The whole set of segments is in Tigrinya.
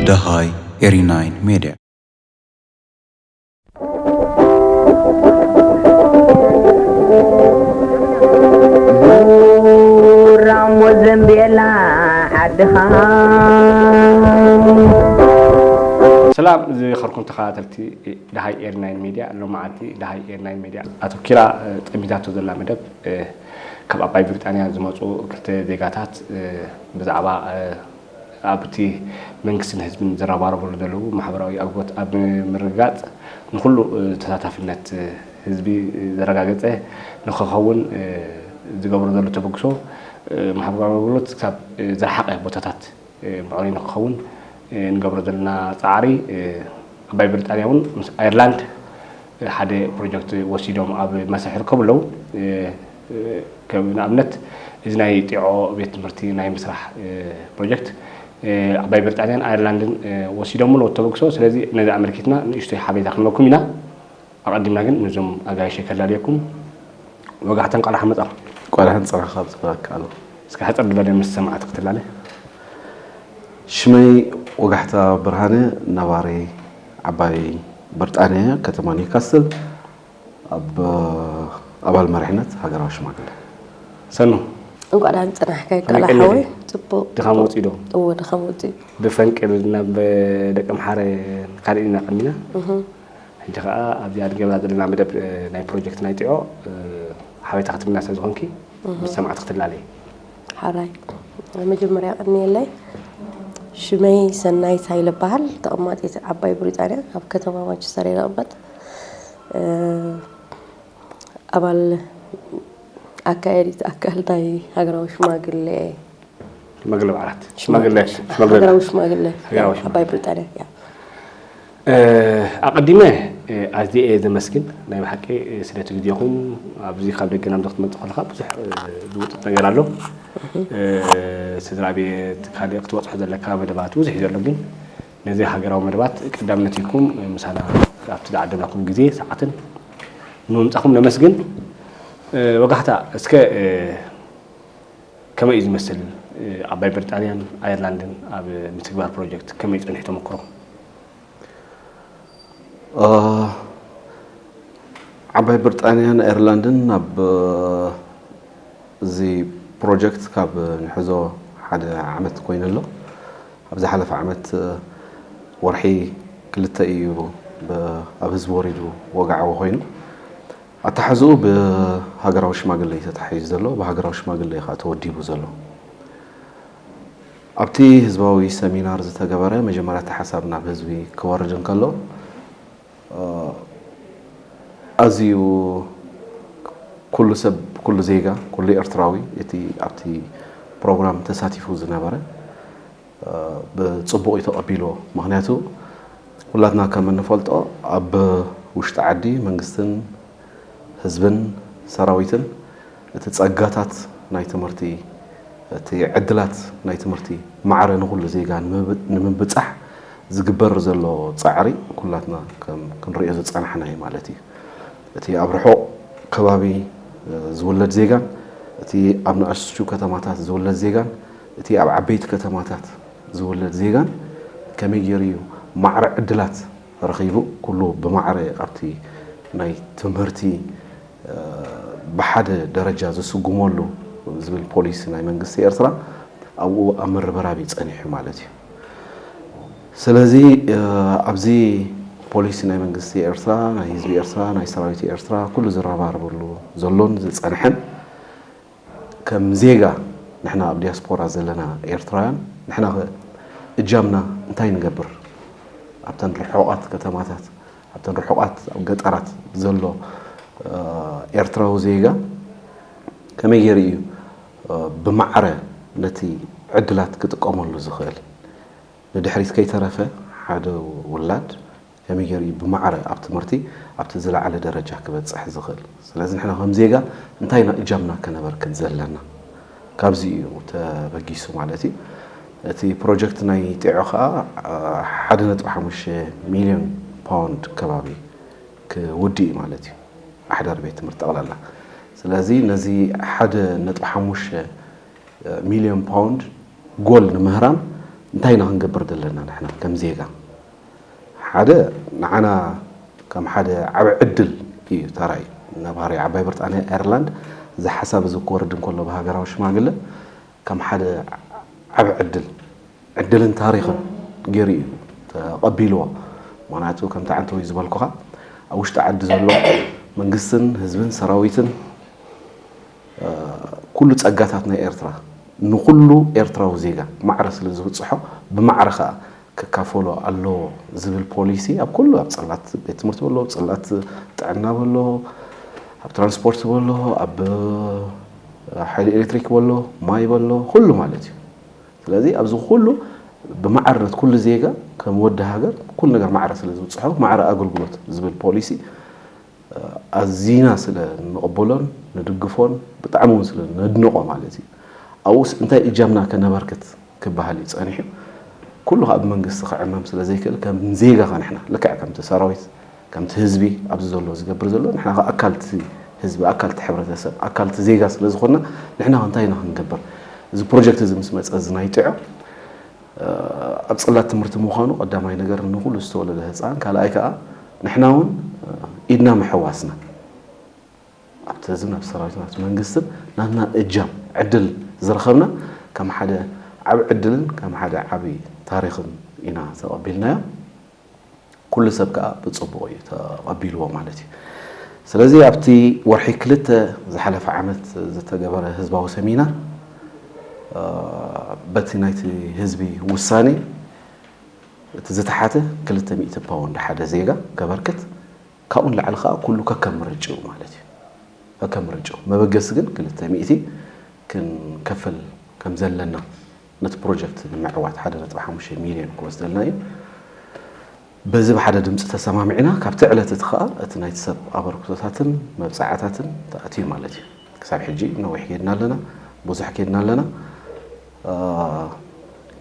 ደሃይ ኤሪናይን ሜድያ ራሞ ዘንቤላ ዓድኻ ሰላም ዝኸርኩም ተኸታተልቲ ደሃይ ኤሪ ናይን ሜድያ ሎማዓንቲ ደሃይ ኤሪ ናይን ሜድያ ኣቶኪራ ጠሚታቶ ዘላ መደብ ካብ ኣባይ ብሪጣንያ ዝመጹ ክልተ ዜጋታት ብዛዕባ ኣብቲ መንግስትን ህዝብን ዝረባረብሉ ዘለዉ ማሕበራዊ ኣጎት ኣብ ምርግጋጽ ንኹሉ ተሳታፊነት ህዝቢ ዘረጋገጸ ንኸኸውን ዝገብሮ ዘሎ ተበግሶ ማሕበራዊ ኣገልግሎት ክሳብ ዝረሓቐ ቦታታት ብቐሊሉ ክኸውን ንገብሮ ዘለና ጻዕሪ ዓባይ ብሪጣንያ እውን ምስ ኣየርላንድ ሓደ ፕሮጀክት ወሲዶም ኣብ መስርሕ ይርከቡ ኣለዉ ከም ንኣብነት እዚ ናይ ጢዖ ቤት ትምህርቲ ናይ ምስራሕ ፕሮጀክት ዓባይ ብሪጣንያን ኣየርላንድን ወሲዶም ኣለዉ ተበግሶ ስለዚ ነዚ ኣመልኪትና ንእሽቶይ ሓበሬታ ክንበኩም ኢና ኣቐዲምና ግን ነዞም ኣጋይሸይ ከላልየኩም ወጋሕታ እንቋዕ ደሓን መጻኹም። እንቋዕ ደሓን ጸረኻ ኣብ ዝባካ ኣሎ። እስከ ሕጽር ድበለ ምስ ሰማዕቲ ክትላለ። ሽመይ ወጋሕታ ብርሃነ ነባሪ ዓባይ ብርጣንያ ከተማ ኒውካስል ኣብ ኣባል መሪሕነት ሃገራዊ ሽማግለ። ሰኑ። እንቋዕ ደሓን ጸናሕካ እንቋዕ ከመይ ደሓን ቀኒኺ? ሓወይ ጽቡቕ ድኻም ወጺኡ ዶ? እወ ድኻም ወጺኡ ብፈንቅል ናብ ደቀምሓረ ካልእን ኢና ቀኒና። ሕጂ ከኣ ኣብዚ ኣድጊብና ዘለና መደብ ናይ ፕሮጀክት ናይ ጢዖ ሓበሬታ ክትብልና ስለ ዝኾንኪ ምስ ሰማዕቲ ክትላለይ። ሓራይ መጀመርያ ቀንየለይ ሽመይ ሰናይት ሃይለ እባሃል ተቐማጢት ዓባይ ብሪጣንያ ኣብ ከተማ ማንቸስተር እየ ዝቕመጥ ኣባል ኣካየዲት ኣካል ናይ ሃገራዊ ሽማግለ እየ ሽማግለ በዓላት ሽማግለ ሽማግለ ሃገራዊ ሽማግለ ሃገራዊ ሽማግለ። ዓባይ ብሪጣንያ እያ ኣቀዲመ ኣዝየ እየ ዘመስግን ናይ ብሓቂ ስለቲ ግዜኹም ኣብዚ ካብ ደገ ናብዚ ክትመጽእ ከለኻ ብዙሕ ዝውጥጥ ነገር ኣሎ ስድራቤት ካልእ ክትበጽሖ ዘለካ መደባት ብዙሕ እዩ ዘሎ ግን ነዚ ሃገራዊ መደባት ቀዳምነት ሂብኩም ምሳና ኣብቲ ዝዓደምናኩም ግዜ ሰዓትን ንምምጻኹም ነመስግን ወጋሕታ እስከ ከመይ እዩ ዝመስል ዓባይ ብርጣንያን ኣየርላንድን ኣብ ምትግባር ፕሮጀክት ከመይ ፀኒሑ ተመክሮ? ዓባይ ብርጣንያን ኣየርላንድን ኣብ እዚ ፕሮጀክት ካብ ንሕዞ ሓደ ዓመት ኮይኑ ኣሎ። ኣብ ዝሓለፈ ዓመት ወርሒ ክልተ እዩ ኣብ ህዝቢ ወሪዱ ወግዓዊ ኮይኑ። ኣተሓሕዝኡ ብሃገራዊ ሽማግለ እዩ ተታሒዙ ዘሎ፣ ብሃገራዊ ሽማግለ እዩ ከኣ ተወዲቡ ዘሎ። ኣብቲ ህዝባዊ ሰሚናር ዝተገበረ መጀመርያ እቲ ሓሳብ ናብ ህዝቢ ክወርድ እንከሎ ኣዝዩ ኩሉ ሰብ ኩሉ ዜጋ ኩሉ ኤርትራዊ እቲ ኣብቲ ፕሮግራም ተሳቲፉ ዝነበረ ብፅቡቕ እዩ ተቐቢልዎ። ምኽንያቱ ኩላትና ከም እንፈልጦ ኣብ ውሽጢ ዓዲ መንግስትን ህዝብን ሰራዊትን እቲ ፀጋታት ናይ ትምህርቲ፣ እቲ ዕድላት ናይ ትምህርቲ ማዕረ ንኹሉ ዜጋ ንምብፃሕ ዝግበር ዘሎ ፃዕሪ ኩላትና ክንሪኦ ዝፀናሕና እዩ ማለት እዩ። እቲ ኣብ ርሑቕ ከባቢ ዝውለድ ዜጋን እቲ ኣብ ንኣሽቱ ከተማታት ዝውለድ ዜጋን እቲ ኣብ ዓበይቲ ከተማታት ዝውለድ ዜጋን ከመይ ጌሩ እዩ ማዕረ ዕድላት ረኺቡ ኩሉ ብማዕረ ኣብቲ ናይ ትምህርቲ ብሓደ ደረጃ ዝስጉመሉ ዝብል ፖሊሲ ናይ መንግስቲ ኤርትራ ኣብኡ ኣብ ምርብራብ እዩ ጸኒሑ ማለት እዩ። ስለዚ ኣብዚ ፖሊሲ ናይ መንግስቲ ኤርትራ ናይ ህዝቢ ኤርትራ ናይ ሰራዊት ኤርትራ ኩሉ ዝረባረበሉ ዘሎን ዝጸንሐን ከም ዜጋ ንሕና ኣብ ዲያስፖራ ዘለና ኤርትራውያን ንሕናኸ እጃምና እንታይ ንገብር? ኣብተን ርሑቓት ከተማታት ኣብተን ርሑቓት ኣብ ገጠራት ዘሎ ኤርትራዊ ዜጋ ከመይ ጌሩ እዩ ብማዕረ ነቲ ዕድላት ክጥቀመሉ ዝኽእል? ንድሕሪት ከይተረፈ ሓደ ውላድ ከመይ ጌሩ እዩ ብማዕረ ኣብ ትምህርቲ ኣብቲ ዝለዓለ ደረጃ ክበጽሕ ዝኽእል? ስለዚ ንሕና ከም ዜጋ እንታይ ኢና እጃምና ከነበርክት ዘለና? ካብዚ እዩ ተበጊሱ ማለት እዩ። እቲ ፕሮጀክት ናይ ጢዖ ከኣ ሓደ ነጥቢ ሓሙሽተ ሚልዮን ፓውንድ ከባቢ ክውድእ እዩ ማለት እዩ፣ ኣሕዳሪ ቤት ትምህርቲ ጠቕላላ። ስለዚ ነዚ ሓደ ነጥቢ ሓሙሽተ ሚልዮን ፓውንድ ጎል ንምህራም እንታይ ኢና ክንገብር ዘለና ንሕና ከም ዜጋ? ሓደ ንዓና ከም ሓደ ዓቢ ዕድል እዩ ተራእዩ። ነባሪ ዓባይ ብርጣንያ ኣየርላንድ እዚ ሓሳብ እዚ ክወርድ እንከሎ ብሃገራዊ ሽማግለ ከም ሓደ ዓቢ ዕድል ዕድልን ታሪኽን ገይሩ እዩ ተቐቢልዎ። ምኽንያቱ ከምቲ ዓንተወይ ዝበልኩኻ ኣብ ውሽጢ ዓዲ ዘሎ መንግስትን ህዝብን ሰራዊትን ኩሉ ጸጋታት ናይ ኤርትራ ንኹሉ ኤርትራዊ ዜጋ ማዕረ ስለ ዝብጽሖ ብማዕረ ከኣ ክካፈሎ ኣለዎ ዝብል ፖሊሲ ኣብ ኩሉ ኣብ ጽላት ቤት ትምህርቲ በሎ ጽላት ጥዕና በሎ ኣብ ትራንስፖርት በሎ ኣብ ሓይሊ ኤሌክትሪክ በሎ ማይ በሎ ኩሉ ማለት እዩ ስለዚ ኣብዚ ኩሉ ብማዕርነት ኩሉ ዜጋ ከም ወዲ ሃገር ኩሉ ነገር ማዕረ ስለ ዝብፅሖ ማዕረ ኣገልግሎት ዝብል ፖሊሲ ኣዚና ስለ ንቕበሎን ንድግፎን ብጣዕሚ እውን ስለ ነድንቖ ማለት እዩ ኣብኡስ እንታይ እጃምና ከነበርክት ክበሃል እዩ ጸኒሑ። ኩሉ ከኣ ብመንግስቲ ክዕመም ስለ ዘይክእል ከም ዜጋ ከኣ ንሕና ልክዕ ከምቲ ሰራዊት ከምቲ ህዝቢ ኣብዚ ዘሎ ዝገብር ዘሎ ንሕና ከኣ ኣካልቲ ህዝቢ ኣካልቲ ሕብረተሰብ ኣካልቲ ዜጋ ስለ ዝኾንና ንሕና ከ እንታይ ኢና ክንገብር እዚ ፕሮጀክት እዚ ምስ መጸ እዚ ናይ ጥዑ ኣብ ጽላት ትምህርቲ ምዃኑ ቀዳማይ ነገር ንኹሉ ዝተወለደ ህጻን ካልኣይ ከኣ ንሕና እውን ኢድና ምሕዋስና ኣብቲ ህዝብን ኣብ ሰራዊትን ኣብቲ መንግስትን ናትና እጃም ዕድል ዝረኸብና ከም ሓደ ዓቢ ዕድልን ከም ሓደ ዓቢ ታሪኽን ኢና ተቐቢልናዮ። ኩሉ ሰብ ከኣ ብጽቡቕ እዩ ተቐቢልዎ ማለት እዩ። ስለዚ ኣብቲ ወርሒ ክልተ ዝሓለፈ ዓመት ዝተገበረ ህዝባዊ ሰሚናር በቲ ናይቲ ህዝቢ ውሳኔ እቲ ዝተሓተ ክልተ ሚእቲ ፓውንድ ሓደ ዜጋ ከበርክት ካብኡ ንላዕሊ ከኣ ኩሉ ከከም ምርጭኡ ማለት እዩ። ከከም ምርጭኡ መበገሲ ግን ክልተ ሚእቲ ክንከፍል ከም ዘለና ነቲ ፕሮጀክት ንምዕዋት ሓደ ነጥቢ ሓሙሽተ ሚልዮን ክወስደልና እዩ። በዚ ብሓደ ድምጺ ተሰማሚዕና ካብቲ ዕለት እቲ ከኣ እቲ ናይቲ ሰብ ኣበርክቶታትን መብጽዓታትን ተኣትዩ ማለት እዩ። ክሳብ ሕጂ ነዊሕ ኬድና ኣለና። ብዙሕ ኬድና ኣለና።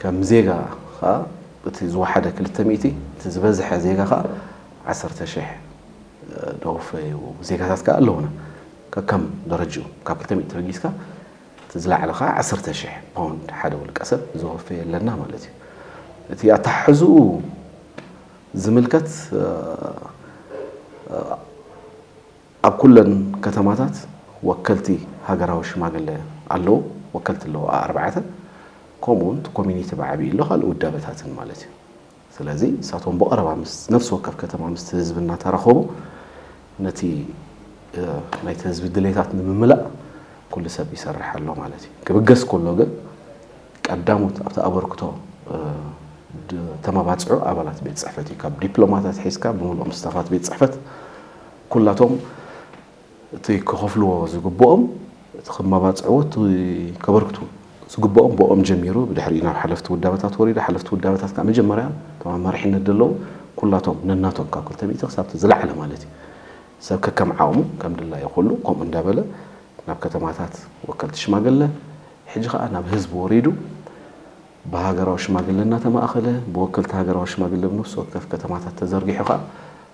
ከም ዜጋ ከኣ እቲ ዝወሓደ ክልተ ሚእቲ እቲ ዝበዝሐ ዜጋ ከኣ ዓሰርተ ሽሕ ደወፈዩ ዜጋታት ከኣ ኣለዉና። ከከም ደረጅኡ ካብ ክልተ ሚእቲ ተበጊስካ እቲ ዝለዓለ ከኣ ዓሰርተ ሽሕ ፓውንድ ሓደ ውልቀሰብ ዘወፈየ ኣለና ማለት እዩ። እቲ ኣተሓሕዝኡ ዝምልከት ኣብ ኩለን ከተማታት ወከልቲ ሃገራዊ ሽማግለ ኣለዉ። ወከልቲ ኣለዉ ኣኣርባዕተ። ከምኡውን እቲ ኮሚኒቲ ብዓቢኡ ኣሎ ካልእ ውዳበታትን ማለት እዩ። ስለዚ ንሳቶም ብቐረባ ምስ ነፍሲ ወከፍ ከተማ ምስቲ ህዝቢ እናተራኸቡ ነቲ ናይቲ ህዝቢ ድሌታት ንምምላእ ኩሉ ሰብ ይሰርሕ ኣሎ ማለት እዩ። ክብገስ ከሎ ግን ቀዳሞት ኣብቲ ኣበርክቶ ተመባፅዑ ኣባላት ቤት ፅሕፈት እዩ። ካብ ዲፕሎማት ኣትሒዝካ ብምሉኦም ስታፋት ቤት ፅሕፈት ኩላቶም እቲ ከኸፍልዎ ዝግብኦም እቲ ክማባጽዕዎ እቲ ከበርክቱ ዝግብኦም ብኦም ጀሚሩ ብድሕሪኡ ናብ ሓለፍቲ ውዳበታት ወሪዱ ሓለፍቲ ውዳበታት ከኣ መጀመርያ እቶም ኣብ መሪሕነት ደለዉ ኩላቶም ነናቶም ካብ ክልተ ሚእቲ ክሳብ እቲ ዝለዓለ ማለት እዩ ሰብ ከከም ዓቕሙ ከም ድላዩ ኩሉ ከምኡ እንዳበለ ናብ ከተማታት ወከልቲ ሽማግለ ሕጂ ከኣ ናብ ህዝቢ ወሪዱ ብሃገራዊ ሽማግለ እናተማእኸለ ብወከልቲ ሃገራዊ ሽማግለ ኣብ ነፍሲ ወከፍ ከተማታት ተዘርጊሑ ከኣ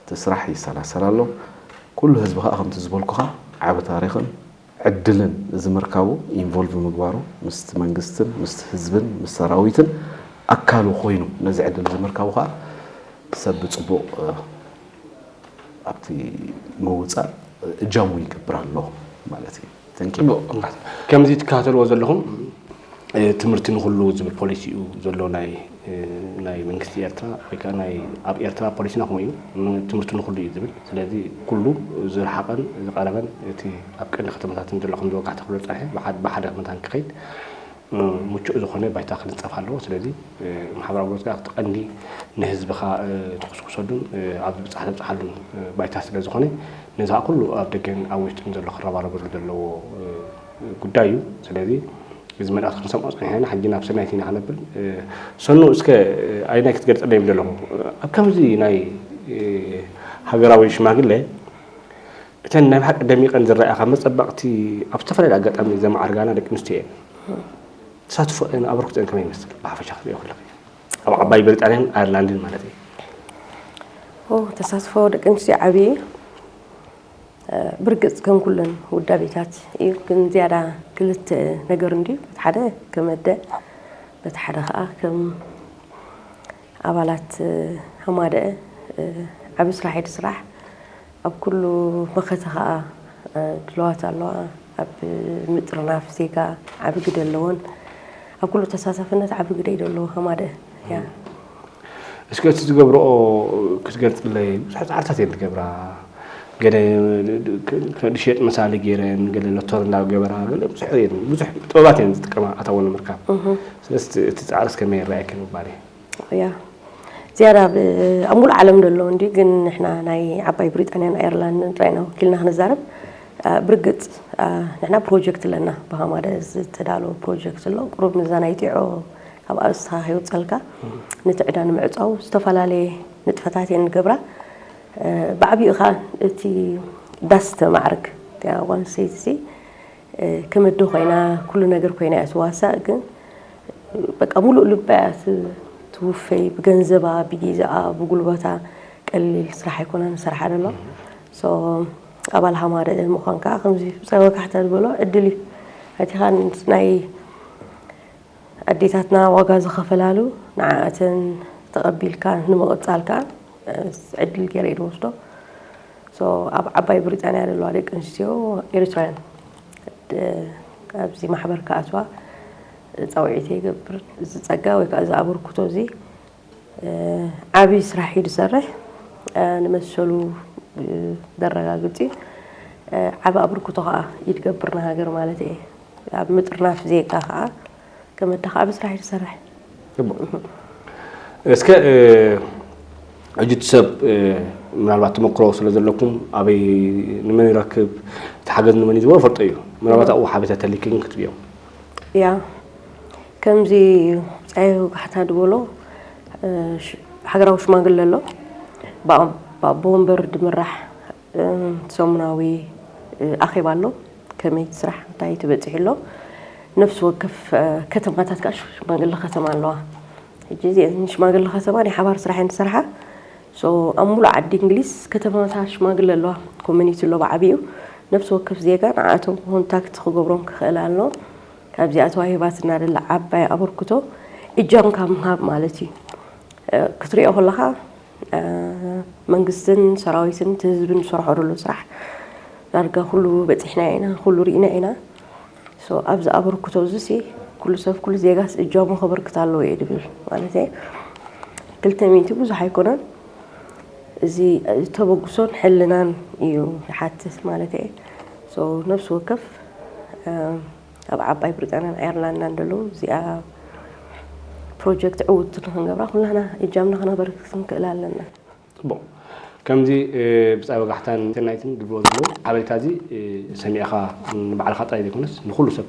እቲ ስራሕ ይሰላሰል ኣሎ። ኩሉ ህዝቢ ከኣ ከምቲ ዝበልኩኻ ዓቢ ታሪኽን ዕድልን እዚ ምርካቡ ኢንቮልቭ ምግባሩ ምስቲ መንግስትን ምስቲ ህዝብን ምስ ሰራዊትን ኣካሉ ኮይኑ ነዚ ዕድል እዚ ምርካቡ ከኣ ሰብ ብጽቡቕ ኣብቲ ምውጻእ እጃሙ ይገብር ኣሎ ማለት እዩ። ከምዚ ትከታተልዎ ዘለኹም ትምህርቲ ንኹሉ ዝብል ፖሊሲ እዩ ዘሎ ናይ መንግስቲ ኤርትራ ወይ ከዓ ናይ ኣብ ኤርትራ ፖሊሲና ከምኡ እዩ ትምህርቲ ንኹሉ እዩ ዝብል ስለዚ ኩሉ ዝረሓቐን ዝቐረበን እቲ ኣብ ቀንዲ ከተማታትን ዘሎ ከም ዝወጋሕተ ክሎ ጸርሐ ብሓደ መታን ክኸይድ ምቹእ ዝኾነ ባይታ ክንፀፍ ኣለዎ። ስለዚ ማሕበራዊ ጉልበት ከዓ እቲ ቀንዲ ንህዝብኻ ትኹስኩሰሉን ኣብ ዝብፃሕ ተብፅሓሉን ባይታ ስለ ዝኾነ ነዚ ከዓ ኩሉ ኣብ ደገን ኣብ ውሽጥን ዘሎ ክረባረበሉ ዘለዎ ጉዳይ እዩ። ስለዚ እዚ መልእኽቲ ክንሰምዖ ፀኒሕና ኢና ሕጂ ናብ ሰናይት ኢና ክነብል ሰኑ እስከ ኣይናይ ክትገልፀለይ ምደለኹ ኣብ ከምዚ ናይ ሃገራዊ ሽማግለ እተን ናይ ብሓቂ ደሚቐን ዝረኣያ ካብ መጸበቕቲ ኣብ ዝተፈላለየ ኣጋጣሚ ዘማዕርጋና ደቂ ኣንስትዮ እየን። ተሳትፎኤን ኣበርክቶኤን ከመይ ይመስል ብሓፈሻ ክትሪኦ ከለኺ? ኣብ ዓባይ ብሪጣንያን ኣየርላንድን ማለት እየ። ተሳትፎ ደቂ ኣንስትዮ ዓብዪ እዩ። ብርግጽ ከም ኩለን ውዳቤታት እዩ፣ ግን ዝያዳ ክልተ ነገር እንድዩ በቲ ሓደ ከም ኣደ በቲ ሓደ ከዓ ከም ኣባላት ሃማደአ ዓብዪ ስራሕ ኢድ ስራሕ ኣብ ኩሉ መኸተ ከኣ ድልዋት ኣለዋ። ኣብ ምጥርናፍ ዜጋ ዓቢ ግደ ኣለወን። ኣብ ኩሉ ተሳታፍነት ዓቢ ግደ ይደለዎ ከማደ እያ። እስከ እቲ ዝገብረኦ ክትገልጽለይ ብዙሕ ጻዕርታት እየን ዝገብራ ገለ ከድሸጥ መሳሊ ገይረን ገለ ሎቶር እንዳገበራ ገለ ብዙሕ እየን ብዙሕ ጥበባት እየን ዝጥቀማ ኣታዊ ንምርካብ ስለዚ እቲ ጻዕርስ ከመይ ይረኣየኪ ምባል እዩ ያ ዝያዳ ኣብ ኣብ ሙሉእ ዓለም ደሎ እንዲ ግን ንሕና ናይ ዓባይ ብሪጣንያን ኣየርላንድን ጥራይ ኢና ወኪልና ክንዛረብ ብርግጽ ንሕና ፕሮጀክት ኣለና ብሃማደ ዝተዳለወ ፕሮጀክት ኣሎ ቁሩብ ንዛ ናይ ጢዖ ካብ ኣርእስትኻ ከይውፀልካ ነቲ ዕዳ ንምዕፃው ዝተፈላለየ ንጥፈታት እየን ንገብራ ብዓብኡ ከዓ እቲ ዳስ ተማዕርግ እቲኣ ጓል ኣንስተይቲ ከም ኣደ ኮይና ኩሉ ነገር ኮይና እያ ትዋሳእ ግን በቃ ሙሉእ ልባ እያ ትውፈይ ብገንዘባ ብጊዛኣ ብጉልበታ ቀሊል ስራሕ ኣይኮነን ዝሰርሓ ደሎ ኣባል ሃማረ ምዃን ከዓ ከምዚ ብፀወካሕታ ዝበሎ ዕድል እዩ ኣቲኻን ናይ ኣዴታትና ዋጋ ዝኸፈላሉ ንዓኣተን ተቐቢልካ ንምቕፃል ከዓ ዕድል ገይረ እየ ዝወስዶ ኣብ ዓባይ ብሪጣንያ ዘለዋ ደቂ ኣንስትዮ ኤርትራውያን ኣብዚ ማሕበር ክኣትዋ ፃውዒት ይገብር እዚ ፀጋ ወይ ከዓ እዚ ኣበርክቶ እዚ ዓብዪ ስራሕ እዩ ዝሰርሕ ንመሰሉ ዘረጋግፅ እዩ ዓብ ኣበርክቶ ከዓ ይትገብር ንሃገር ማለት እየ ኣብ ምጥርናፍ ዜጋ ከኣ ገመዳ ከኣ ምስራሕ እዩ ዝሰርሕ። እስከ ሕጂ እቲ ሰብ ምናልባት ተመክሮ ስለ ዘለኩም ኣበይ ንመን ይረክብ እቲ ሓገዝ ንመን እዩ ዝቦ ፈልጦ እዩ ምናልባት ኣብኡ ሓበሬታ ተሊክን ክትብዮ ያ ከምዚ ፀየ ወጋሕታ ድበሎ ሃገራዊ ሽማግለ ኣሎ ብኣቦ ወንበር ድምራሕ ሰሙናዊ ኣኼባ ኣሎ። ከመይ እቲ ስራሕ እንታይ ተበፂሑ ኣሎ? ነፍሲ ወከፍ ከተማታት ከዓ ሽማግለ ከተማ ኣለዋ። ሕጂ እዚአን ሽማግለ ከተማ ናይ ሓባር ስራሕ እየን ዝሰርሓ። ኣብ ሙሉእ ዓዲ እንግሊዝ ከተማታት ሽማግለ ኣለዋ። ኮሚኒቲ ኣሎ ብዓብይኡ። ነፍሲ ወከፍ ዜጋ ንዓኣቶም ኮንታክት ክገብሮም ክኽእል ኣለዎ። ካብዚኣ ተዋሂባትና ዘላ ዓባይ ኣበርክቶ እጃምካ ምሃብ ማለት እዩ። ክትሪኦ ከለኻ መንግስትን ሰራዊትን እቲ ህዝብን ዝሰርሖ ዘሎ ስራሕ ዳርጋ ኩሉ በፂሕናዮ ኢና፣ ኩሉ ርኢናዮ ኢና። ሶ ኣብዚ ኣበርክቶ እዚ ሲ ኩሉ ሰብ ኩሉ ዜጋስ እጃሙ ከበርክት ኣለዎ እየ ዝብል። ማለት ክልተ ሚእቲ ብዙሕ ኣይኮነን እዚ ተበግሶን ሕልናን እዩ ዝሓትት ማለት እየ። ሶ ነፍሲ ወከፍ ኣብ ዓባይ ብሪጣንያን ኣየርላንዳን ደለዉ እዚኣ ፕሮጀክት ዕውት ንክንገብራ ኩላና እጃምና ክነበርክት ክንክእል ኣለና። ፅቡቕ ከምዚ ብፃይ ወጋሕታን ሰናይትን ድብልዎ ዘለዉ ሓበሬታ እዚ ሰሚዕኻ ንባዕልኻ ጥራይ ዘይኮነስ ንኹሉ ሰብ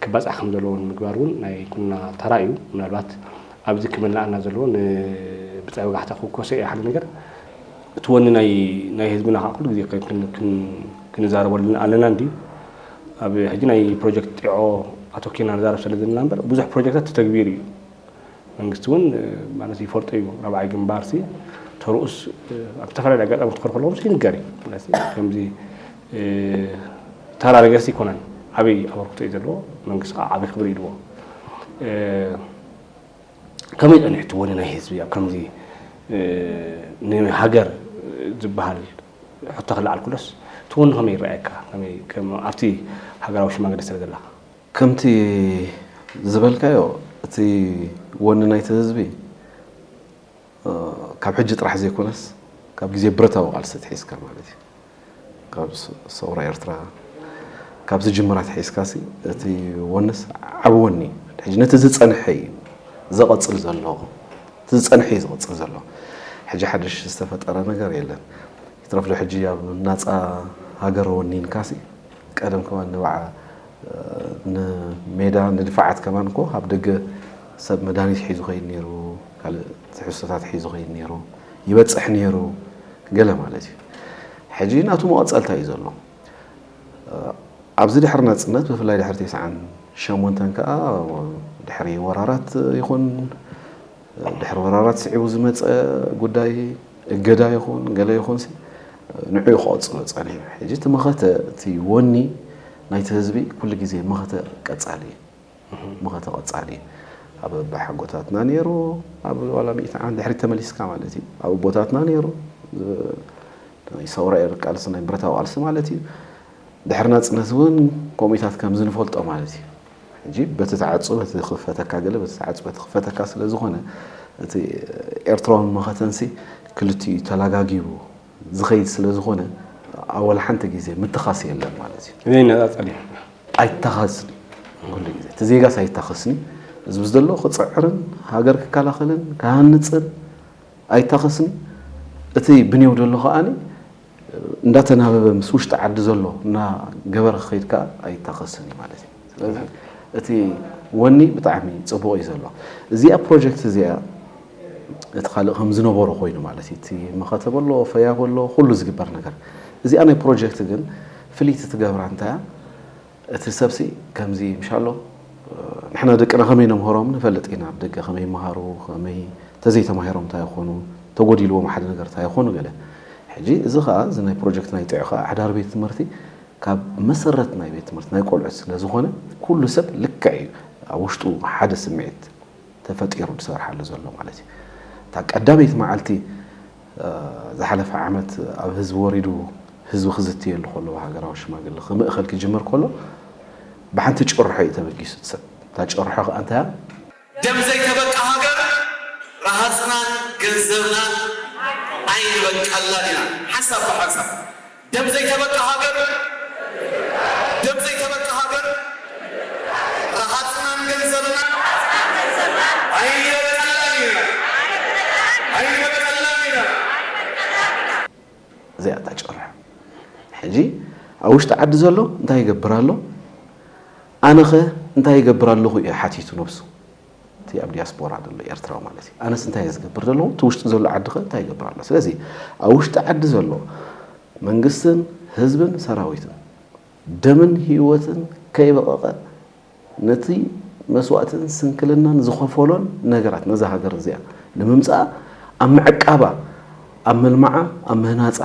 ክባፃሕ ከም ዘለዎ ንምግባር እውን ናይ ኩልና ተራ እዩ። ምናልባት ኣብዚ ክምልኣና ዘለዎ ንብፃይ ወጋሕታ ክውከሶ እየ ሓደ ነገር እቲ ወኒ ናይ ህዝብና ከዓ ኩሉ ግዜ ክንዛረበሉ ኣለና እንድዩ ኣብ ሕጂ ናይ ፕሮጀክት ጢዖ ኣቶኪና ንዛረብ ስለ ዘለና እምበር ብዙሕ ፕሮጀክታት ተተግቢሩ እዩ መንግስቲ እውን ማለት ይፈልጦ እዩ ራብዓይ ግንባር ሲ ተርኡስ ኣብ ዝተፈላለዩ ኣጋጣሚ ክትከር ከለዎም ይንገር እዩ ከምዚ ተራ ነገርሲ ይኮነን ዓብይ ኣበርክቶ እዩ ዘለዎ መንግስቲ ከዓ ዓብይ ክብሪ ይድዎ ከመይ ፀኒሕትዎ ናይ ህዝቢ ኣብ ከምዚ ንሃገር ዝበሃል ሕቶ ከለዓልኩለስ ትወኑ ከመይ ይረኣየካ ኣብቲ ሃገራዊ ሽማግለ ስለ ዘለኻ? ከምቲ ዝበልካዮ እቲ ወኒ ናይቲ ህዝቢ ካብ ሕጂ ጥራሕ ዘይኮነስ ካብ ግዜ ብረታዊ ቃልሲ ኣትሒዝካ ማለት እዩ ካብ ሰውራ ኤርትራ ካብ ዝጅምር ኣትሒዝካሲ እቲ ወንስ ዓቢ ወኒ እዩ። ሕጂ ነቲ ዝጸንሐ እዩ ዘቐጽል ዘሎ። እቲ ዝጸንሐ እዩ ዝቕጽል ዘሎ ሕጂ ሓድሽ ዝተፈጠረ ነገር የለን ይትረፍዶ ሕጂ ኣብ ናጻ ሃገር ወኒንካሲ ቀደም ከማን ንባዓ ንሜዳ ንድፋዓት ከማን እኮ ኣብ ደገ ሰብ መድሃኒት ሒዙ ኸይድ ነይሩ ካልእ ትሕዝቶታት ሒዙ ኸይድ ነይሩ ይበጽሕ ነይሩ ገለ ማለት እዩ ሕጂ ናቱ መቐጸልታ እዩ ዘሎ ኣብዚ ድሕሪ ናጽነት ብፍላይ ድሕሪ ቴስዓን ሸሞንተን ከኣ ድሕሪ ወራራት ይኹን ድሕሪ ወራራት ስዒቡ ዝመጸ ጉዳይ እገዳ ይኹን ገለ ይኹንሲ ንዕኡ ክቐጽሎ ጸኒሑ ሕጂ እቲ መኸተ እቲ ወኒ ናይቲ ህዝቢ ኩሉ ግዜ መኸተ ቀጻሊ እዩ። መኸተ ቆጻሊ ኣብ ኣባሓጎታትና ነይሩ ኣብ ዋላ ሚእቲ ዓመት ድሕሪት ተመሊስካ ማለት እዩ ኣብ ኣቦታትና ነይሩ ናይ ሰውራ ኤር ቃልሲ ናይ ብረታዊ ቃልሲ ማለት እዩ ድሕሪ ናጽነት እውን ከምኡታት ከምዚ ንፈልጦ ማለት እዩ ሕጂ በቲ ተዓጹ በቲ ክፈተካ ገለ በቲ ተዓጹ በቲ ክፈተካ ስለ ዝኾነ እቲ ኤርትራውን መኸተንሲ ክልቲኡ ተላጋጊቡ ዝኸይድ ስለ ዝኾነ ኣወል ሓንቲ ግዜ ምትኻስ የለን ማለት እዩ ዘይነፃፀል እዩ ኣይታኸስን ኩሉ ግዜ እቲ ዜጋስ ኣይታኸስን እዩ ህዝቢ ዘሎ ክፅዕርን ሃገር ክከላኸልን ክሃንፅን ኣይታኸስን እቲ ብኔው ዘሎ ከዓ እንዳተናበበ ምስ ውሽጢ ዓዲ ዘሎ እና ገበረ ክኸይድ ከዓ ኣይታኸስን እዩ ማለት እዩ ስለዚ እቲ ወኒ ብጣዕሚ ፅቡቕ እዩ ዘሎ እዚኣ ፕሮጀክት እዚኣ እቲ ካልእ ከም ዝነበሮ ኮይኑ ማለት እዩ። እቲ መኸተ በሎ ፈያ በሎ ኩሉ ዝግበር ነገር እዚኣ ናይ ፕሮጀክት ግን ፍልይቲ ትገብራ እንታይ እያ እቲ ሰብሲ ከምዚ ምሻሎ ንሕና ደቅና ከመይ ነምህሮም ንፈልጥ ኢና ደገ ከመይ ይመሃሩ ከመይ ተዘይተማሂሮም እንታይ ይኾኑ ተጎዲልዎም ሓደ ነገር እንታይ ይኾኑ ገለ ሕጂ እዚ ከዓ እዚ ናይ ፕሮጀክት ናይ ጥዑ ከዓ ኣሕዳር ቤት ትምህርቲ ካብ መሰረት ናይ ቤት ትምህርቲ ናይ ቆልዑት ስለ ዝኾነ ኩሉ ሰብ ልክዕ እዩ ኣብ ውሽጡ ሓደ ስምዒት ተፈጢሩ ዝሰርሓሉ ዘሎ ማለት እዩ። እታ ቀዳመይቲ መዓልቲ ዝሓለፈ ዓመት ኣብ ህዝቢ ወሪዱ ህዝቢ ክዝትየሉ ከሎ ብሃገራዊ ሽማግለ ክምእኸል ክጅምር ከሎ ብሓንቲ ጭርሖ እዩ ተበጊሱ እቲ ሰብ። እታ ጭርሖ ከኣ እንታይ እያ? ደም ዘይተበቃ ሃገር ረሃጽናን ገንዘብናን ኣይንበቀላን ኢና። ሓንሳብ ብሓንሳብ ደም ዘይተበቃ ሃገር ደም ዘይተበቃ ሃገር ረሃጽናን ገንዘብናን ኣይንበቀላን ኢና ኣይንበቀላን ኢና። እዚኣ እታ ጭቕርሖ ሕጂ ኣብ ውሽጢ ዓዲ ዘሎ እንታይ ይገብር ኣሎ ኣነኸ እንታይ ይገብር ኣለኹ ኢዩ ሓቲቱ ነብሱ። እቲ ኣብ ዲያስፖራ ዘሎ ኤርትራዊ ማለት እዩ ኣነስ እንታይ እየ ዝገብር ዘለዎ እቲ ውሽጢ ዘሎ ዓዲ ከ እንታይ ይገብር ኣሎ ስለዚ ኣብ ውሽጢ ዓዲ ዘሎ መንግስትን ህዝብን ሰራዊትን ደምን ህይወትን ከይበቐቐ ነቲ መስዋእትን ስንክልናን ዝኸፈሎን ነገራት ነዛ ሃገር እዚኣ ንምምፃኣ ኣብ ምዕቃባ ኣብ ምልማዓ ኣብ ምህናፃ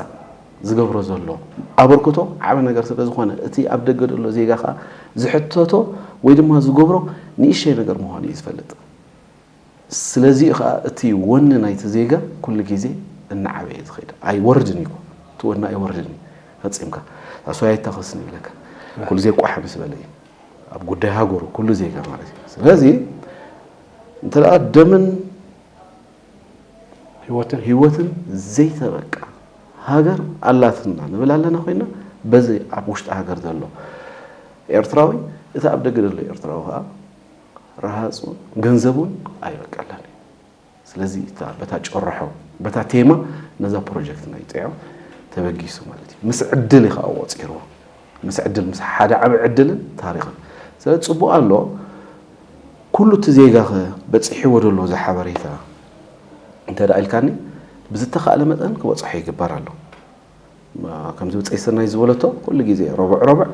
ዝገብሮ ዘሎ ኣበርክቶ ዓቢ ነገር ስለ ዝኾነ እቲ ኣብ ደገ ዘሎ ዜጋ ከኣ ዝሕተቶ ወይ ድማ ዝገብሮ ንእሸይ ነገር ምዃኑ እዩ ዝፈልጥ። ስለዚ'ዩ ከኣ እቲ ወኒ ናይቲ ዜጋ ኩሉ ግዜ እናዓበየ ዝኸይድ። ኣይወርድን እዩ'ኮ እቲ ወኒ ኣይወርድን እዩ ፈጺምካ። ሳዕስዋይ ኣይታኸስን ይብለካ። ኩሉ ግዜ ቋሕ ምስ በለ እዩ ኣብ ጉዳይ ሃገሩ ኩሉ ዜጋ ማለት እዩ። ስለዚ እንተ ደኣ ደምን ህይወትን ህይወትን ዘይተበቃ ሃገር ኣላትና ንብል ኣለና ኮይና በዚ ኣብ ውሽጢ ሃገር ዘሎ ኤርትራዊ እቲ ኣብ ደገ ዘሎ ኤርትራዊ ከዓ ረሃፁ ገንዘቡን ኣይበቀለን እዩ ስለዚ በታ ጨረሖ በታ ቴማ ነዛ ፕሮጀክት ናይ ጥዕም ተበጊሱ ማለት እዩ ምስ ዕድል እዩ ከዓ ቆፂርዎ ምስ ዕድል ምስ ሓደ ዓቢ ዕድልን ታሪኽን ስለዚ ጽቡቅ ኣሎ ኩሉ እቲ ዜጋኸ በጺሕዎ ዶ ኣሎ እዚ ሓበሬታ እንተ ኢልካኒ ብዝተኻእለ መጠን ክበጽሖ ይግበር ኣሎ ከምዚ ብጸይ ሰናይ ዝበለቶ ኩሉ ግዜ ረቡዕ ረቡዕ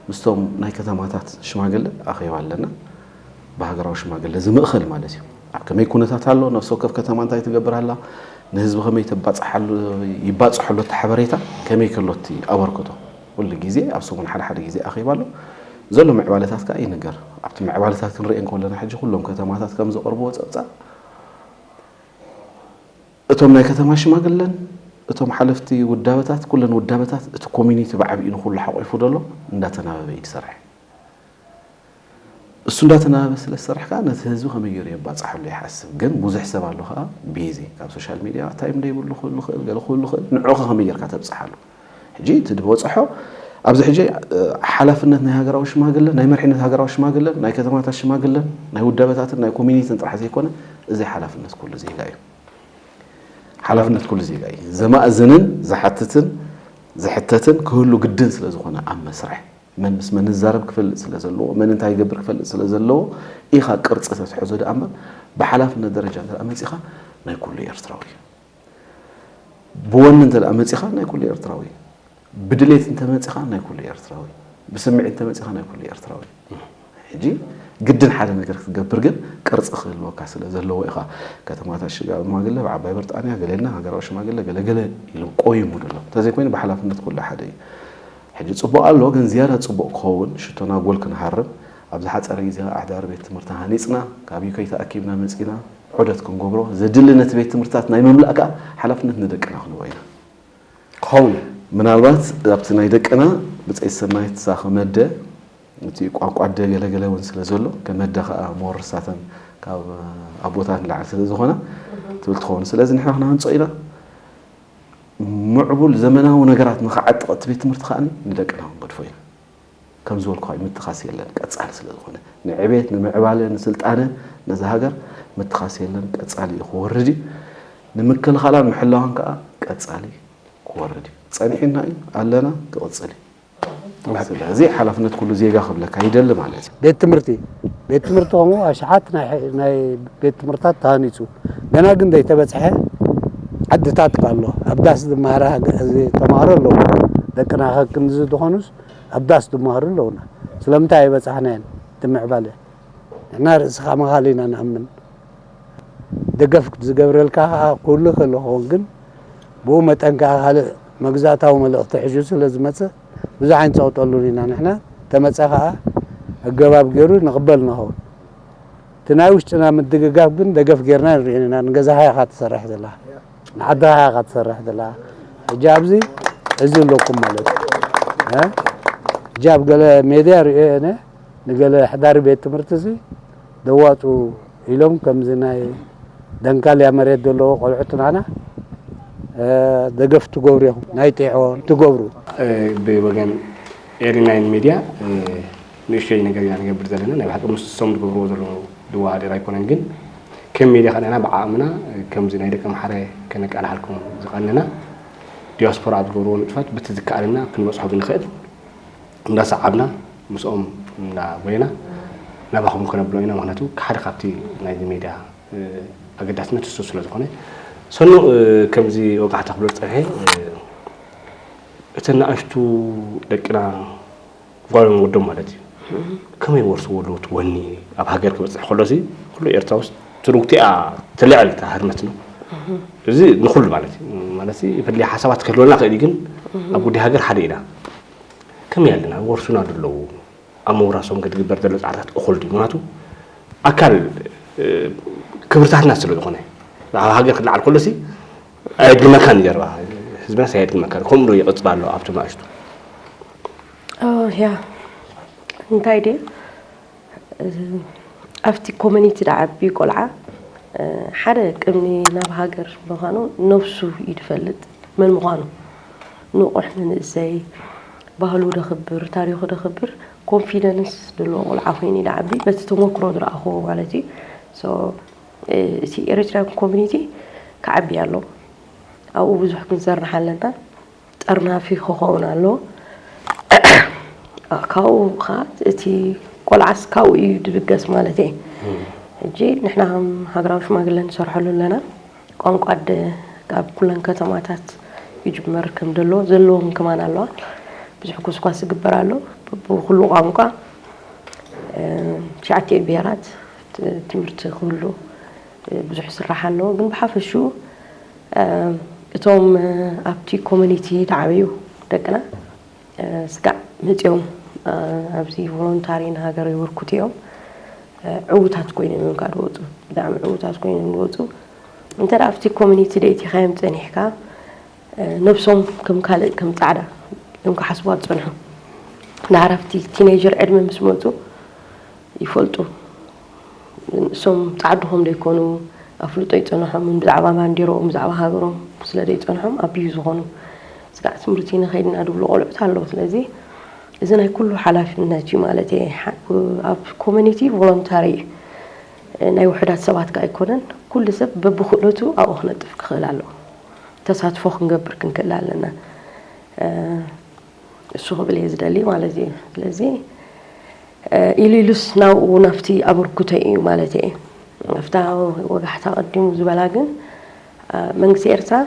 ምስቶም ናይ ከተማታት ሽማግለ ኣኼባ ኣለና ብሃገራዊ ሽማግለ ዝምእኸል ማለት እዩ። ኣብ ከመይ ኩነታት ኣሎ፣ ነፍሲ ወከፍ ከተማ እንታይ ትገብር ኣላ፣ ንህዝቢ ከመይ ይባፅሖ ኣሎ እቲ ሓበሬታ፣ ከመይ ከሎ እቲ ኣበርክቶ፣ ኩሉ ግዜ ኣብ ሰሙን ሓደ ሓደ ግዜ ኣኼባ ኣሎ። ዘሎ ምዕባለታት ከዓ ይንገር። ኣብቲ ምዕባለታት ክንሪኤን ከለና ሕጂ ኩሎም ከተማታት ከም ዘቕርብዎ ፀብፃብ እቶም ናይ ከተማ ሽማግለን እቶም ሓለፍቲ ውዳበታት ኩለን ውዳበታት እቲ ኮሚኒቲ ብዓብዩ ንኩሉ ሓቑፉ ደሎ እንዳተናበበ እዩ ዝሰርሐ። እሱ እንዳተናበበ ስለ ዝሰራሕካ ነቲ ህዝቢ ከመይ ገሩ የባጻሐሉ ይሓስብ ግን ቡዙሕ ሰብ ኣሎ ከኣ ቢዚ ካብ ሶሻል ሚድያ ታይም ደይብሉ ክህሉ ይክእል ገለ ክህሉ ይክእል ንዑዑ ከ ከመይ ገርካ ተብጻሓሉ ሕጂ እቲ ድበጸሖ ኣብዚ ሕጂ ሓላፍነት ናይ ሃገራዊ ሽማግለ ናይ መርሒነት ሃገራዊ ሽማግለን ናይ ከተማታት ሽማግለን ናይ ውዳበታትን ናይ ኮሚኒትን ጥራሕ ዘይኮነ እዚ ሓላፍነት ኩሉ ዜጋ እዩ ሓላፍነት ኩሉ ዜጋ እዩ ዘማእዝንን ዝሓትትን ዝሕተትን ክህሉ ግድን ስለ ዝኾነ ኣብ መስርሕ መን ምስ መን ዝዛረብ ክፈልጥ ስለ ዘለዎ፣ መን እንታይ ይገብር ክፈልጥ ስለ ዘለዎ ኢኻ ቅርጺ ተትሕዞ ደኣ እምበር ብሓላፍነት ደረጃ እንተ መጺኻ ናይ ኩሉ ኤርትራዊ እዩ። ብወኒ እንተ መጺኻ ናይ ኩሉ ኤርትራዊ እዩ። ብድሌት እንተ መጺኻ ናይ ኩሉ ኤርትራዊ እዩ። ብስምዒት እንተ መጺኻ ናይ ኩሉ ኤርትራዊ እዩ። ሕጂ ግድን ሓደ ነገር ክትገብር ግን ቅርጺ ክህልወካ ስለ ዘለዎ ኢኻ። ከተማታት ሽግ ሽማግለ ብ ዓባይ ብርጣንያ ገለ ኢልና ሃገራዊ ሽማግለ ገለ ገለ ኢሉ ቆይሙ ድሎ። እንተዘይኮይኑ ብሓላፍነት ኩሉ ሓደ እዩ። ሕጂ ጽቡቕ ኣሎ ግን ዝያዳ ጽቡቕ ክኸውን ሽቶና ጎል ክንሃርም ኣብ ዝሓጸረ ግዜ ከኣ ኣሕዳሪ ቤት ትምህርቲ ሃኒጽና ካብ UK ተኣኪብና መጺና ዑደት ክንገብሮ ዘድሊ ነቲ ቤት ትምህርትታት ናይ ምምላእ ከኣ ሓላፍነት ንደቅና ክንቦ ኢና። ክኸውን እዩ። ምናልባት ኣብቲ ናይ ደቅና ብጸይቲ ሰናይት ሳክመደ፣ እቲ ቋንቋ ኣደ ገለ ገለ እውን ስለ ዘሎ ከም ኣደ ከዓ መወርሳተን ካብ ኣቦታት ንላዕሊ ስለ ዝኾነ ትብል ትኸውን ስለዚ ንሕና ክነሃንፆ ኢና ምዕቡል ዘመናዊ ነገራት ንክዓጥቕ እቲ ቤት ትምህርቲ ከዓ ንደቅና ክንገድፎ ኢና ከም ዝበልኩ እዩ ምትኻስ የለን ቀፃሊ ስለ ዝኾነ ንዕቤት ንምዕባለ ንስልጣነ ነዛ ሃገር ምትኻስ የለን ቀፃሊ እዩ ክወርድ እዩ ንምክልኻላን ምሕላዋን ከዓ ቀፃሊ ክወርድ እዩ ፀኒሑና እዩ ኣለና ክቕፅል እዩ ስለዚ ሓላፍነት ኩሉ ዜጋ ክብለካ ይደሊ ማለት እዩ። ቤት ትምህርቲ ቤት ትምህርቲ ከምኡ ኣሽሓት ናይ ቤት ትምህርታት ተሃኒፁ ገና ግን ዘይተበፅሐ ዓድታት እኳ ኣሎ ኣብ ዳስ ዝመሃረ ተምሃሮ ኣለዉ ደቅና ከ ክንዚ ዝኾኑስ ኣብ ዳስ ዝመሃሩ ኣለዉና ስለምንታይ ኣይበፃሕናዮን እቲ ምዕባለ ንሕና ርእሲ ከማኻል ኢና ንኣምን ደገፍ ዝገብረልካ ከኣ ክህሉ ይኽእል ክኸውን ግን ብኡ መጠን ከኣ ካልእ መግዛእታዊ መልእኽቲ ሒዙ ስለ ዝመጽእ ብዙሕ ኣይንጸቕጠሉን ኢና ንሕና ተመጸ ከኣ ኣገባብ ጌሩ ንቕበል ንኸውን እቲ ናይ ውሽጥና ምድግጋፍ ግን ደገፍ ጌርና ኣይንርእዮን ኢና ንገዛኻ ኢኻ ትሰርሕ ዘለኻ ንዓድኻ ኢኻ ትሰርሕ ዘለኻ ሕጂ ኣብዚ እዚ ኣለኩም ማለት እዩ ሕጂ ኣብ ገለ ሜድያ ርእዮ እየ ንገለ ኣሕዳሪ ቤት ትምህርቲ'ሲ ደዋጹ ኢሎም ከምዚ ናይ ደንካልያ መሬት ዘለዎ ቆልዑት ናህና ደገፍ ትገብሩ ኢኹም ናይ ጢዖ ትገብሩ። ብወገን ኤሪ ናይን ሜድያ ንእሽቶይ ነገር ኢና ንገብር ዘለና ናይ ብሓቂ ምስሶም ዝገብርዎ ዘለዉ ዝወዳደር ኣይኮነን ግን ከም ሜድያ ከኣ ንሕና ብዓቕምና ከምዚ ናይ ደቂ ኣምሓረ ከነቃላሓልኩም ዝቐነና ዲያስፖራ ኣብ ዝገብርዎ ንጥፈት በቲ ዝከኣለና ክንበጽሖ ብንኽእል እንዳሰዓብና ምስኦም እናጎየና ናባኹም ከነብሎ ኢና ምክንያቱ ሓደ ካብቲ ናይዚ ሜድያ ኣገዳስነት እሱ ስለ ዝኾነ ሰኑ ከምዚ ወጋሕታ ክብሎ ዝፀንሐ እተን ንኣሽቱ ደቅና ጓሎም ወዶም ማለት እዩ ከመይ ወርስዎ ኣለዎ እቲ ወኒ ኣብ ሃገር ክበፅሕ ከሎሲ ኩሉ ኤርትራ ውስጥ ትርጉቲኣ ትልዕል እታ ህርመት ነው እዚ ንኩሉ ማለት እዩ ማለት ፍልይ ሓሳባት ክህልወና ክእል እዩ ግን ኣብ ጉዳይ ሃገር ሓደ ኢና ከመይ ኣለና ወርሱና ዶ ኣለዉ ኣብ ምውራሶም ከትግበር ዘሎ ጻዕርታት እኹል ድዩ ምክንያቱ ኣካል ክብርታትና ስለ ዝኾነ ኣብ ሃገር ክለዓል ከሎ ሲ ኣየድግመካን ጀርባ ህዝብናስ ኣየድግመካን ከምኡ ዶ ይቕጽል ኣሎ ኣብቶም ናእሽቱ ያ እንታይ ድዩ ኣብቲ ኮመኒቲ ድዓቢ ቆልዓ ሓደ ቅድሚ ናብ ሃገር ምዃኑ ነብሱ እዩ ድፈልጥ መን ምዃኑ ንቑሕ መንእሰይ ባህሉ ደኽብር ታሪኹ ደኽብር ኮንፊደንስ ድልዎ ቆልዓ ኮይኑ እዩ ድዓቢ በቲ ተሞክሮ ዝረኣኹዎ ማለት እዩ ሶ እቲ ኤሪትሪያን ኮሚኒቲ ክዓቢ ኣሎ ኣብኡ ብዙሕ ክንሰርሕ ኣለና ጠርናፊ ኽከውን ኣለዎ ካብኡ ከኣ እቲ ቆልዓስ ካብኡ እዩ ዝብገስ ማለት እየ ሕጂ ንሕና ከም ሃገራዊ ሽማግለ ንሰርሐሉ ኣለና ቋንቋ ኣደ ካብ ኩለን ከተማታት ይጅመር ከም ዘለዎ ዘለዎም ከማን ኣለዋ ብዙሕ ጎስጓስ ይግበር ኣሎ ብኩሉ ቋንቋ ትሽዓቲኡ ብሄራት ትምህርቲ ክህሉ ብዙሕ ይስራሕ ኣለዎ ግን ብሓፈሽኡ እቶም ኣብቲ ኮሚኒቲ ዝዓበዩ ደቅና ስጋዕ መጺኦም ኣብዚ ቮሎንታሪ ንሃገር የበርክቱ እዮም። ዕዉታት ኮይኖም እዮም ከዓ ዝወፁ። ብጣዕሚ ዕዉታት ኮይኖም እዮም ዝወፁ። እንተ ኣብቲ ኮሚኒቲ ደይቲኻዮም ፀኒሕካ ነብሶም ከም ካልእ ከም ፃዕዳ እዮም ክሓስቡዋ ዝፀንሑ። ደሓር ኣብቲ ቲነይጀር ዕድመ ምስ መፁ ይፈልጡ። ንሶም ጻዓዱኹም ደይኮኑ ኣፍልጦ ይጸናሖም ብዛዕባ ባንዴሮኦም ብዛዕባ ሃገሮም ስለ ደይጸንሖም ኣቢዩ ዝኾኑ ስጋዕ ትምህርቲ ንኸይድና ድብሉ ቆልዑት ኣለዉ ስለዚ እዚ ናይ ኩሉ ሓላፍነት እዩ ማለት እየ ኣብ ኮሚኒቲ ቮሎንታሪ ናይ ውሕዳት ሰባት ከ ኣይኮነን ኩሉ ሰብ በብክእለቱ ኣብኡ ክነጥፍ ክኽእል ኣለዎ ተሳትፎ ክንገብር ክንክእል ኣለና እሱ ክብል እየ ዝደሊ ማለት እዩ ስለዚ ኢሉ ኢሉስ ናብኡ ናብቲ ኣበርኩቶ እዩ ማለት እየ ናብታ ወጋሕታ ቀዲሙ ዝበላ ግን መንግስቲ ኤርትራ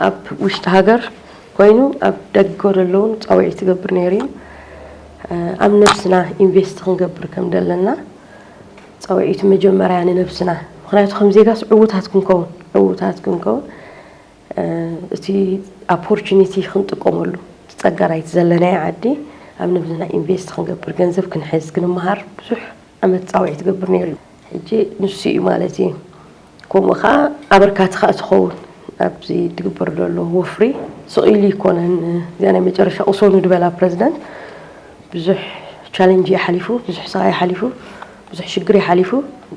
ኣብ ውሽጢ ሃገር ኮይኑ ኣብ ደገ ዘለውን ፃውዒት ትገብር ነይሩ እዩ ኣብ ነብስና ኢንቨስት ክንገብር ከም ዘለና ፃውዒት መጀመርያ ንነብስና ምክንያቱ ከም ዜጋስ ዕውታት ክንከውን ዕውታት ክንከውን እቲ ኣፖርቹኒቲ ክንጥቀመሉ እቲ ፀጋ ናይቲ ዘለናዮ ዓዲ ኣብ ንብዝና ኢንቨስት ክንገብር ገንዘብ ክንሕዝ ክንመሃር ብዙሕ ዓመት ፃውዒት ይገብር ነይሩ እዩ። ሕጂ ንሱ እዩ ማለት እዩ ከምኡ ከዓ ኣበርካቲ ከዓ ትኸውን ኣብዚ ዝግበር ዘሎ ወፍሪ ስቕ ኢሉ ኣይኮነን እዚኣ ናይ መጨረሻ ቅሰኑ ዝበላ ፕረዚደንት ብዙሕ ቻለንጅ እዩ ሓሊፉ ብዙሕ ስቓይ ሓሊፉ ብዙሕ ሽግር ሓሊፉ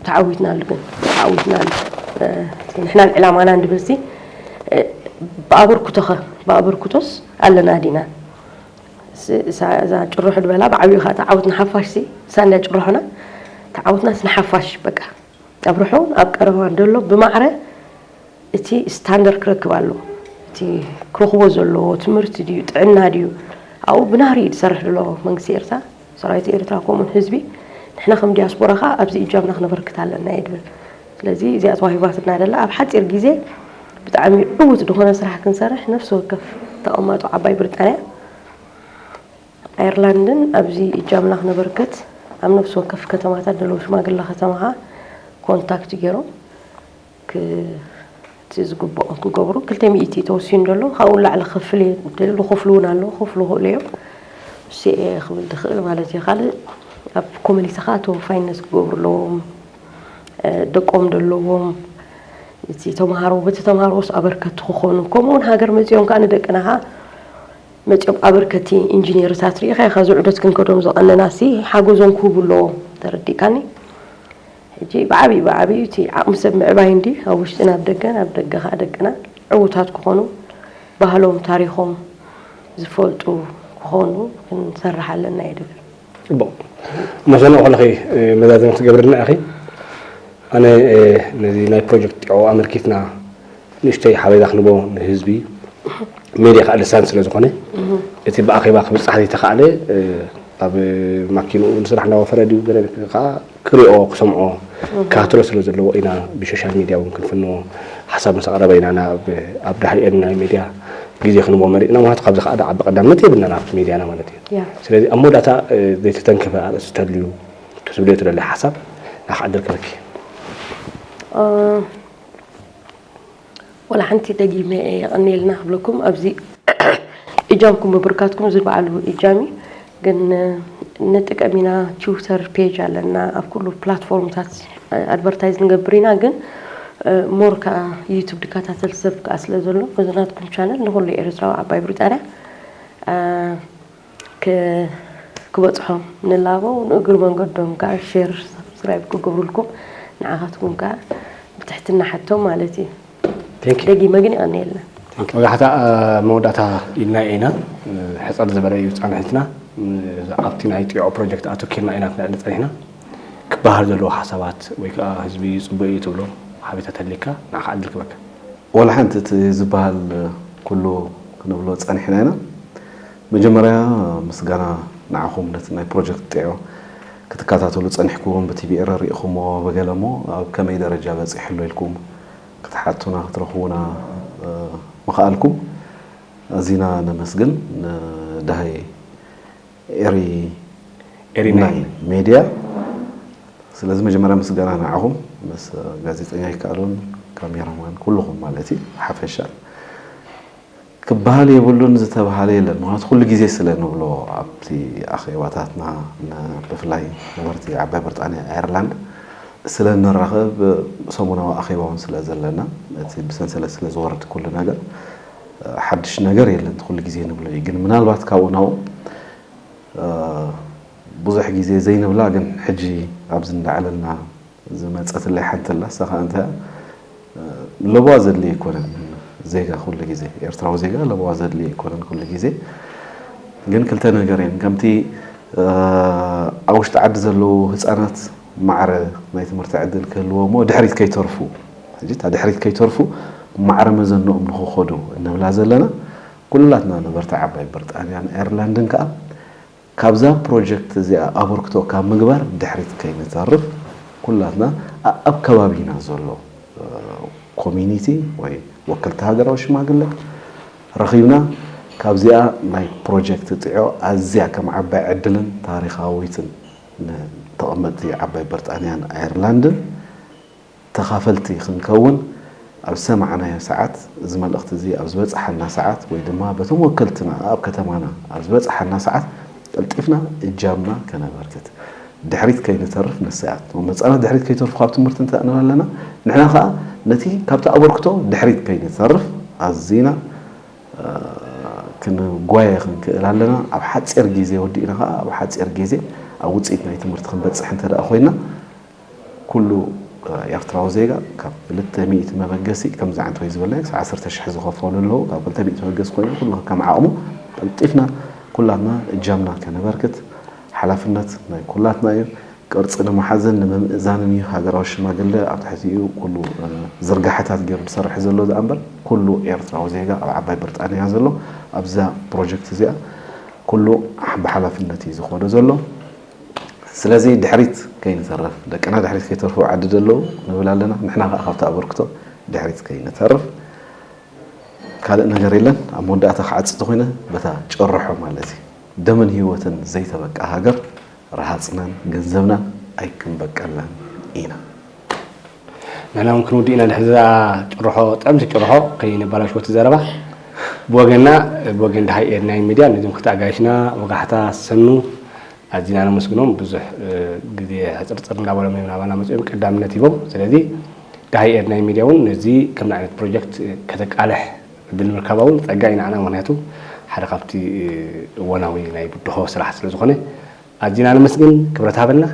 ተዓዊትናሉ ግን ተዓዊትናሉ ንሕናን ዕላማናን ድብልሲ ብኣበርክቶኸ ብኣበርክቶስ ኣለና ዲና እዛ ጭርሖ ድበላ ብዓብዩ ከዓ ተዓውት ንሓፋሽ ሲ ሳንያ ጭርሖና ተዓውትናስ ንሓፋሽ በቃ ኣብርሖ ኣብ ቀረባን ደሎ ብማዕረ እቲ ስታንደር ክረክብ ኣለዎ እቲ ክረኽቦ ዘለዎ ትምህርቲ ድዩ ጥዕና ድዩ ኣብኡ ብናህሪ እዩ ዝሰርሕ ዘሎ መንግስቲ ኤርትራ ሰራዊት ኤርትራ ከምኡ ህዝቢ ንሕና ከም ዲያስፖራ ከዓ ኣብዚ እጃምና ክነበርክት ኣለና እየ ድብል ስለዚ እዚኣ ተዋሂባትና ደላ ኣብ ሓፂር ግዜ ብጣዕሚ ዕውት ዝኾነ ስራሕ ክንሰርሕ ነፍሲ ወከፍ ተቐማጦ ዓባይ ብሪጣንያ ኣየርላንድን ኣብዚ እጃምና ክነበርክት ኣብ ነፍሲ ወከፍ ከተማታት ደለዉ ሽማግላ ከተማኻ ኮንታክት ገይሮም እቲ ዝግብኦም ክገብሩ ክልተ ሚእቲ እዩ ተወሲኑ ዘሎ ካብኡ ንላዕሊ ክፍል እየ እንተይሉ ዝኽፍሉ እውን ኣለዉ ክኽፍሉ ይኽእሉ እዮም እሱ እየ ክብል ዝኽእል ማለት እዩ ካልእ ኣብ ኮሚኒቲ ከዓ ተወፋይነት ክገብሩ ኣለዎም ደቆም ዘለዎም እቲ ተምሃሮ በቲ ተምሃሮስ ኣበርከቲ ክኾኑ ከምኡ እውን ሃገር መፂኦም ከዓ ንደቅና ከዓ መፂኦም ኣበርከቲ ኢንጂኔርታት ርኢኻ ኢኻ ዝዑደት ክንከዶም ዝቐነናሲ ሓገዞም ክህቡ ኣለዎም ተረዲእካኒ ሕጂ ብዓቢኡ ብዓቢኡ እቲ ዓቕሚ ሰብ ምዕባይ እንድዩ፣ ኣብ ውሽጥን ኣብ ደገን፣ ኣብ ደገ ከኣ ደቅና ዕዉታት ክኾኑ፣ ባህሎም ታሪኾም ዝፈልጡ ክኾኑ ክንሰርሕ ኣለና እየ ድብል። ጽቡቕ ሞሰኖ ከለኺ መዛዘሚ ክትገብርልና ኢኺ። ኣነ ነዚ ናይ ፕሮጀክት ጢዖ ኣመልኪትና ንእሽቶይ ሓበሬታ ክንቦ ንህዝቢ፣ ሜድያ ከኣ ልሳን ስለ ዝኾነ፣ እቲ ብኣኼባ ክብጻሕ ዘይተኻእለ ኣብ ማኪንኡ ንስራሕ እንዳወፈረ ድዩ ገለ ከኣ ክሪኦ ክሰምዖ ክከታተሎ ስለ ዘለዎ ኢና ብሾሻል ሚድያ እውን ክንፍንዎ ሓሳብ ምስ ኣቕረበ ኢና ናብ ኣብ ዳሕሪኤን ናይ ሚድያ ግዜ ክንቦ መሪፅና ምክንያቱ ካብዚ ከዓ ድዓቢ ቀዳምነት የብልናን ኣብቲ ሚድያና ማለት እዩ ስለዚ ኣብ መወዳእታ ዘይተተንከፈ ኣርእስቲ ተልዩ ክትብልዮ ትደሊ ሓሳብ ናኻ ዕድል ክህበኪ ዋላ ሓንቲ ደጊመ የቀንየልና ክብለኩም ኣብዚ እጃምኩም ምብርካትኩም እዚ ባዕሉ እጃም እዩ ግን ንጥቀም ኢና ቲውተር ፔጅ ኣለና ኣብ ኩሉ ፕላትፎርምታት ኣድቨርታይዝ ንገብር ኢና ግን ሞር ከዓ ዩቱብ ድከታተል ሰብ ከዓ ስለ ዘሎ እዚ ናትኩም ቻነል ንኩሉ ኤርትራዊ ዓባይ ብሪጣንያ ክበጽሖም ንላቦ ንእግሪ መንገዶም ከኣ ሼር ሳብስክራይብ ክገብሩልኩም ንዓኻትኩም ከኣ ብትሕትና ሕቶ ማለት እዩ። ደጊመ ግን የቐንየልና። መብዛሕትኣ መወዳእታ ኢልና ኢና ሕጽር ዝበለ እዩ ጻንሒትና ኣብቲ ናይ ጢዖ ፕሮጀክት ኣተኪርና ኢና ክነዕሊ ጸኒሕና ክበሃል ዘለዎ ሓሳባት ወይ ከኣ ህዝቢ ጽቡቅ እዩ ትብሎ ሓቤታ ተልይካ ንዓኻ ዕድል ክበካ። ወላሓንቲ እቲ ዝበሃል ኩሉ ክንብሎ ጸኒሕና ኢና። መጀመርያ ምስጋና ንዓኹም ነቲ ናይ ፕሮጀክት ጢዖ ክትከታተሉ ጸኒሕኩም ብቲቪ ኤረ ሪኢኹሞ በገለ እሞ ኣብ ከመይ ደረጃ በጺሑ ኣሎ ኢልኩም ክትሓቱና ክትረኽቡና ምኽኣልኩም ኣዚና ነመስግን ንደሃይ ኤሪ ኤሪ ናይን ሜድያ ስለዚ መጀመርያ ምስጋና ንዓኹም ምስ ጋዜጠኛ ይከኣሎን ካሜራ ማን ኩሉኹም ማለት እዩ ብሓፈሻ ክበሃል የብሉን ዝተብሃለ የለን። ምኽንያቱ ኩሉ ግዜ ስለ ንብሎ ኣብቲ ኣኼባታትና ብፍላይ ነበርቲ ዓባይ ብርጣንያ ኣየርላንድ ስለ ንራኸብ ሰሙናዊ ኣኼባ እውን ስለ ዘለና እቲ ብሰንሰለት ስለ ዝወርድ ኩሉ ነገር ሓድሽ ነገር የለን እቲ ኩሉ ግዜ ንብሎ እዩ። ግን ምናልባት ካብኡ ናብኡ ብዙሕ ግዜ ዘይንብላ ግን ሕጂ ኣብዚ እንዳዕለልና ዝመጸትለይ ሓንቲ ኣላ እሳ ከኣ እንታይ እያ ለበዋ ዘድልዮ ኣይኮነን ዜጋ ኩሉ ግዜ ኤርትራዊ ዜጋ ለበዋ ዘድልዮ ኣይኮነን ኩሉ ግዜ ግን ክልተ ነገር እየን ከምቲ ኣብ ውሽጢ ዓዲ ዘለዉ ህፃናት ማዕረ ናይ ትምህርቲ ዕድል ክህልዎ እሞ ድሕሪት ከይተርፉ ሕጂ እታ ድሕሪት ከይተርፉ ማዕረ መዘንኦም ንክኸዱ እንብላ ዘለና ኩላትና ንበርትዕ ዓባይ ብርጣንያን ኣየርላንድን ከኣ ካብዛ ፕሮጀክት እዚኣ ኣበርክቶ ካብ ምግባር ድሕሪት ከይንተርፍ ኩላትና ኣኣብ ከባቢና ዘሎ ኮሚኒቲ ወይ ወከልቲ ሃገራዊ ሽማግለ ረኺብና ካብዚኣ ናይ ፕሮጀክት ጢዖ ኣዝያ ከም ዓባይ ዕድልን ታሪኻዊትን ንተቐመጥቲ ዓባይ ብርጣንያን ኣየርላንድን ተኻፈልቲ ክንከውን ኣብ ዝሰማዕናዮ ሰዓት፣ እዚ መልእኽቲ እዚ ኣብ ዝበጽሓና ሰዓት ወይ ድማ በቶም ወከልትና ኣኣብ ከተማና ኣብ ዝበጽሓና ሰዓት ቀልጢፍና እጃምና ከነበርክት ድሕሪት ከይንተርፍ ንሰያትም መጻና ድሕሪት ከይተርፉ ካብ ትምህርቲ እንተ ንብል ኣለና ንሕና ከኣ ነቲ ካብቲ ኣበርክቶ ድሕሪት ከይንተርፍ ኣዚና ክንጓየ ክንክእል ኣለና ኣብ ሓጺር ጊዜ ወዲእና ከኣ ኣብ ሓጺር ጊዜ ኣብ ውጽኢት ናይ ትምህርቲ ክንበጽሕ እንተ ኮይና ኩሉ ኤርትራዊ ዜጋ ካብ ክልተ ሚእቲ መበገሲ ከምዚ ዓይነት ወይ ዝበለ ክሳዕ ዓሰርተ ሽሕ ዝኸፈሉ ኣለዉ ካብ ክልተ ሚእቲ መበገሲ ኮይኑ ኩሉ ከከም ዓቕሙ ቀልጢፍና ኩላትና እጃምና ከነበርክት ሓላፍነት ናይ ኩላትና እዩ። ቅርጺ ንምሓዝን ንምምእዛንን እዩ ሃገራዊ ሽማግለ ኣብ ትሕቲኡ ኩሉ ዝርጋሐታት ጌሩ ዝሰርሕ ዘሎ ደኣምበር ኩሉ ኤርትራዊ ዜጋ ኣብ ዓባይ ብርጣንያ ዘሎ ኣብዛ ፕሮጀክት እዚኣ ኩሉ ብሓላፍነት እዩ ዝኸዶ ዘሎ። ስለዚ ድሕሪት ከይንተርፍ፣ ደቅና ድሕሪት ከይተርፉ ኣብ ዓዲ ዘለዉ ንብል ኣለና፣ ንሕና ከኣ ካብቲ ኣበርክቶ ድሕሪት ከይንተርፍ። ካልእ ነገር የለን፣ ኣብ መወዳእታ ክዓጽ እንተኾይነ በታ ጭርሖ ማለት እዩ፣ ደምን ህይወትን ዘይተበቅዓ ሃገር ረሃጽናን ገንዘብናን ኣይክንበቅዕላን ኢና። ንሕና እውን ክንውድእ ኢና ድሕሪ እዛ ጭርሖ ጥዕምቲ ጭርሖ ከይነበላሽወቲ ዘረባ ብወገንና ብወገን ድሃይ ኤርናይን ሚድያ ነዞም ክልተ ኣጋይሽና ወጋሕታ ሰኑ ኣዚና ነመስግኖም ብዙሕ ግዜ ሕፅርፅር እንዳበሎም እዮም ናባና መፅኦም ቀዳምነት ሂቦም ስለዚ ድሃይ ኤርናይን ሚድያ እውን ነዚ ከምዚ ዓይነት ፕሮጀክት ከተቃልሕ ዕድል ምርካባ እውን ፀጋ እዩ ንዓና ምክንያቱ ሓደ ካብቲ እዋናዊ ናይ ብድሆ ስራሕ ስለዝኾነ ኣዚና ነመስግን ክብረት ሃበልና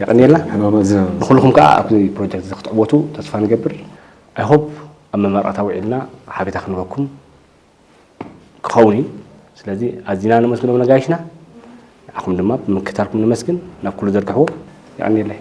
የቀንየልና ንኩልኩም ከኣ ኣብዚ ፕሮጀክት እዚ ክትዕወቱ ተስፋ ንገብር ኣይ ሆፕ ኣብ መመረቅታ ውዒልና ሓቤታ ክንህበኩም ክኸውን እዩ ስለዚ ኣዚና ነመስግኖም ነጋይሽና ንዓኹም ድማ ብምክታልኩም ነመስግን ናብ ኩሉ ዘርግሕዎ የቀንየለይ።